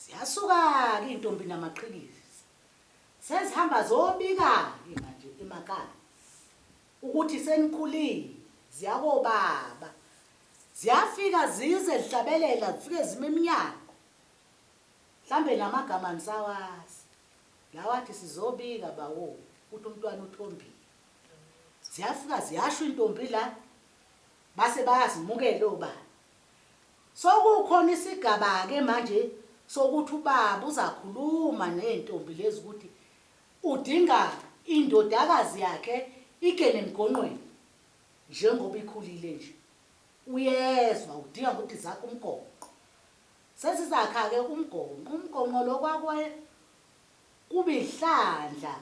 Ziyasuka-ke izintombi namaqhikiza, sezihamba zobika-ke manje emakhaya ukuthi senikhulile, ziya kobaba. Ziyafika zize zihlabelela, zifike zime emnyango. Mhlawumbe namagama anisawazi, lawa athi sizobika bawo ukuthi umntwana uthombile. Ziyafika ziyasho izintombi la, base bayazimukela obaba. Sokukhona isigabake manje sokuthi ubaba uzakhuluma neyntombi lezi ukuthi udinga indodakazi yakhe igene emgonqweni njengoba ikhulile nje uyezwa udinga ukuthi zakhe umgonqo sezizakhake umgonqo umgonqo lo kwakwe kuba inhlandla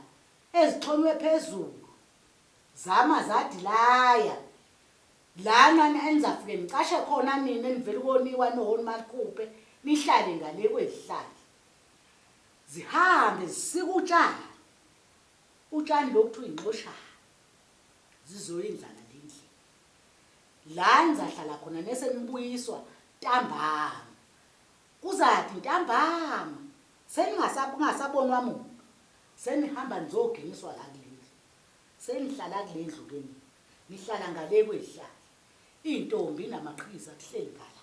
ezixhonywe phezulu zama zadilaya Lana enizafike nicashe khona nina enivela ukoniwa nohoni makupe nihlale ngale kwezihlahla zihambe zisika utshani utshani lo kuthiwa inxoshana zizoya indlala le endlini la nizahlala khona nese nibuyiswa ntambama kuzathi ntambama seningasabonwa muntu senihamba nizogingiswa la kulendlu Senihlala kulendlu ke nina nihlala ngale kwezihlahla iyntombi namaqhiza kuhleli ngala.